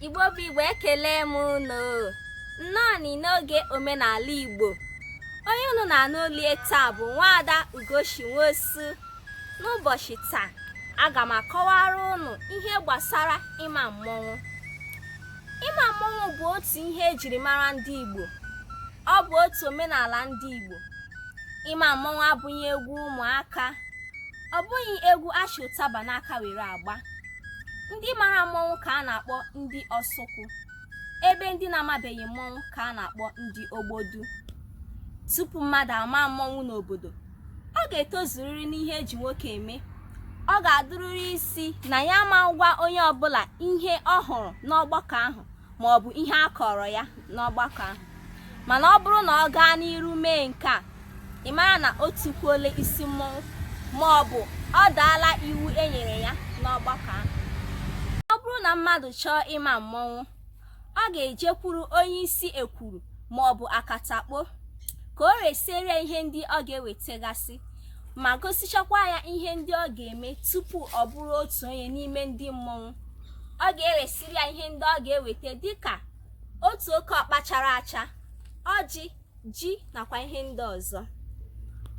igbo bụ igbo ekele m unu nnọọ n'oge omenala igbo onye unu na-anụ olu ya taa bụ nwaada ugochi nwosu n'ụbọchị taa aga m akọwara ụnụ ihe gbasara ịma mmọnwụ ịma mmọnwụ bụ otu ihe ejiri mara ndị Igbo ọ bụ otu omenala ndị Igbo ịma mmọnwụ abụghị egwu ụmụaka ọ bụghị egwu a chị ụtaba n'aka were agba ndị mara mmọnwụ ka a na-akpọ ndị ọsụkwụ ebe ndị na-amabeghị mmọnwụ ka a na-akpọ ndị ogbodu tupu mmadụ ama mmọnwụ n'obodo ọ ga-etozuriri n'ihe eji nwoke eme ọ ga-adụrịrị isi na ya ama agwa onye ọbụla ihe ọ hụrụ n'ọgbakọ ahụ ma ọ bụ ihe a kọọrọ ya n'ọgbakọ ahụ mana ọ bụrụ na ọ gaa n'iru mee nke a ị mara na o tikwuola isi mmọnwụ ma ọ bụ ọ daala iwu e nyere ya n'ọgbakọ ahụ ọ bụrụ na mmadụ chọọ ịma mmọnwụ ọ ga-ejekwuru onye isi ekwuru ma ọ bụ akatakpo ka o resịrị ya ihe ndị ọ ga-ewetagasị ma gosichakwa ya ihe ndị ọ ga-eme tupu ọ bụrụ otu onye n'ime ndị mmọnwụ ọ ga-eresịrị ya ihe ndị ọ ga-eweta dịka otu oke ọkpa chara acha ọjị ji nakwa ihe ndị ọzọ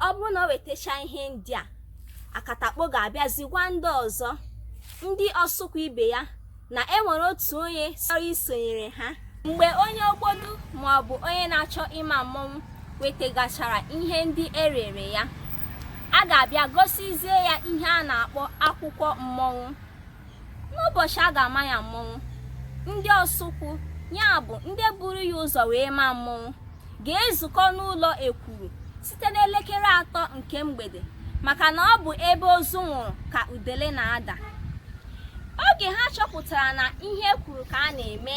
ọ bụrụ na o wetacha ihe ndị a akatakpo ga-abịazi gwa ndị ọzọ ndị ọsụkwụ ibe ya na e nwere otu onye chọrọ isonyere ha mgbe onye ogbodu maọbụ onye na-achọ ịma mmọnwụ wetegachara ihe ndị e rere ya a ga-abịa gosizie ya ihe a na-akpọ akwụkwọ mmọnwụ n'ụbọchị a ga-ama ya mmọnwụ ndị ọsụkwụ ya bụ ndị buru ya ụzọ wee maa mmọnwụ ga-ezukọ n'ụlọ ekwuru site n'elekere atọ nke mgbede maka na ọ bụ ebe ozu nwụrụ ka udele na-ada oge ha chọpụtara na ihe e kwuru ka a na-eme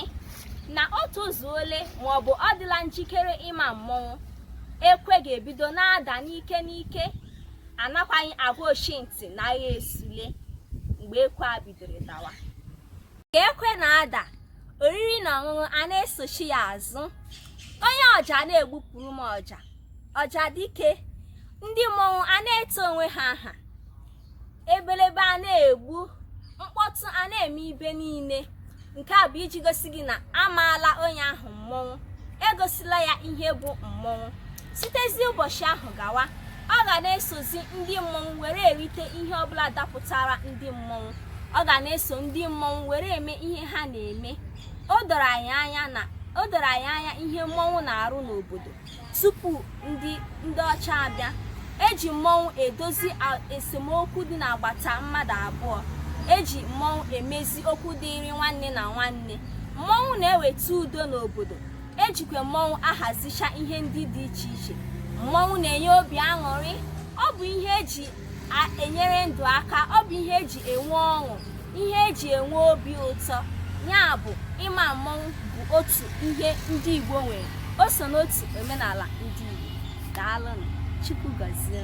na o tozuole maọbụ ọ dịla njikere ịma mmọnwụ ekwe ga-ebido na-ada n'ike n'ike anakwaghị agwa ochi ntị na agha esule mgbe ekwe a bidoro dawa ka ekwe na-ada oriri na ọṅụṅụ a na-esochi ya azụ onye ọja na-egbupụrụ m ọja ọja dike ndị mmọnwụ a na-eto onwe ha aha ebelebe a na-egbu mkpọtụ a na-eme ebe niile nke a bụ iji gosi gị na amaala onye ahụ mmọnwụ egosila ya ihe bụ mmọnwụ sitezi ụbọchị ahụ gawa ọ ga na-esozi ndị mmọnwụ were erite ihe ọbụla dapụtara ndị mmọnwụ ọ ga na-eso ndị mmọnwụ were eme ihe ha na-eme o doro anyị anya ihe mmọnwụ na-arụ n'obodo tupu ndị ndị ọcha abịa eji mmọnwụ edozi esemokwu dị n'agbata mmadụ abụọ eji mmọnwụ emezi okwu dịịrị nwanne na nwanne mmọnwụ na-eweta udo n'obodo ejikwa mmọnwụ ahazicha ihe ndị dị iche iche mmọnwụ na-enye obi aṅụrị ọ bụ ihe eji enyere ndụ aka ọ bụ ihe eji enwe ọṅụ ihe eji enwe obi ụtọ ya bụ ịma mmọnwụ bụ otu ihe ndị Igbo nwere o so n'otu omenala ndị Igbo daalụnụ Chukwu gọzie